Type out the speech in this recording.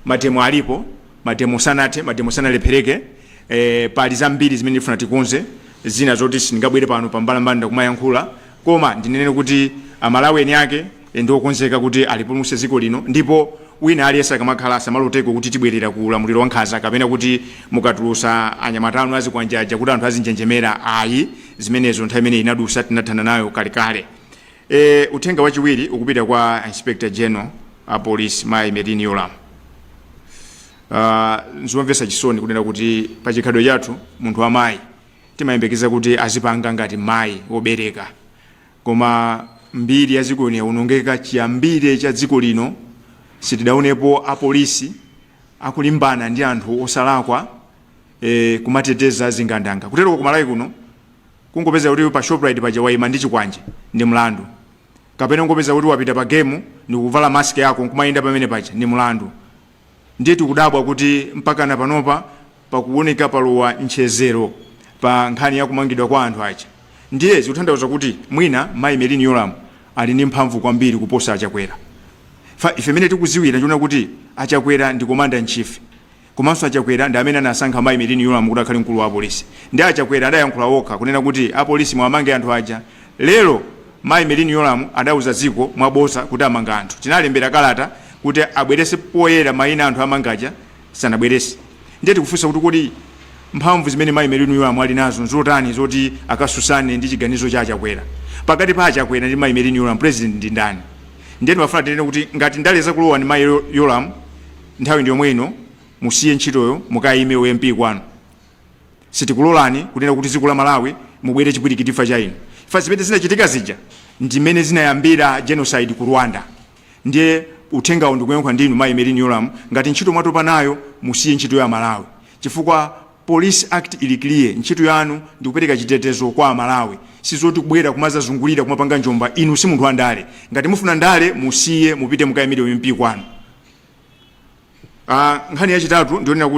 mademo alipo mademo sanathe mademo sanalephereke eh, pali zambiri zimene ndifuna tikonze zina zoti sindingabwere pano pambalambanda kumayankhula koma ndinene kuti amalawi eni ake eh, ndi okonzeka kuti alipulumutse dziko lino ndipo wina aliyense akamakhala asamaloteko kuti tibwerera ku ulamuliro wankhanza kapena kuti mukatulusa anyamata anu azikwanjaja kuti anthu azinjenjemera ayi zimenezo nthawi imene inadusa tinathana nayo kalekale E, uthenga wachiwiri ukupita kwa Inspector General a Police Mayi Merlyne Yolamu. Uh, nzomvetsa chisoni kunena kuti pa chikhalidwe chathu munthu wa mayi timayembekeza kuti azipanga ngati mayi wobereka, koma mbiri ya dziko lino yaonongeka. Chiyambire cha dziko lino sitidaonepo apolisi akulimbana ndi anthu osalakwa, e, kumateteza zigandanga. Kutero ku Malawi kuno Kungopezeka kuti pa Shoprite paja waima ndi chikwanje ndi mlandu. Kapena kungopezeka kuti wapita pa Game ndikuvala mask yako nkumayenda pamene paja ndi mlandu. Ndiye tikudabwa kuti mpakana panopa pakuwoneka palowa ntchedzero pa nkhani ya kumangidwa kwa anthu aja. Ndiye zikuthandauza kuti mwina Mayi Merlyne Yolamu ali ndi mphamvu kwambiri kuposa a Chakwera. Chifukwa ife mmene tikudziwira tikuona kuti a Chakwera ndi Commander in Chief. Komanso a Chakwera ndi amene anasankha mayi Merlyne Yolamu kuti akhale mkulu wa apolisi. Nde a Chakwera adayankhula okha kunena kuti apolisi muwamange anthu aja. Lero mayi Merlyne Yolamu adauza dziko mwa bodza kuti amanga anthu. Tinalembera kalata kuti abwerese poyera maina a anthu amanga aja, sanabwerese. Ndiye tikufunsa kuti kodi mphamvu zimene mayi Merlyne Yolamu ali nazo nzotani zoti akasusane ndi chiganizo cha a Chakwera? Pakati pa a Chakwera ndi mayi Merlyne Yolamu president ndi ndani? Ndiye ndimafuna tinene kuti ngati ndale zakulowani mayi Yolamu, nthawi ndi yomwe ino musiye ntchitoyo mukayime u MP kwanu sitikulolani kunena kuti dziko la Malawi mubwere chipwirikiti chifukwa cha inu chifukwa zimene zinachitika zija ndi mmene zinayambira genocide ku Rwanda ndiye uthengawo ndikuyankhula ndi inu mayi Merlyne Yolamu ngati ntchito mwatopa nayo musiye ntchito ya amalawi chifukwa Police act ili clear ntchito yanu ndikupereka chitetezo kwa amalawi sizoti kubwera kumazazungulira kumapanga njomba inu simunthu wandale ngati mufuna ndale musiye mupite mukayimire u MP kwanu aa nkhani yachitatu ndiyonena kut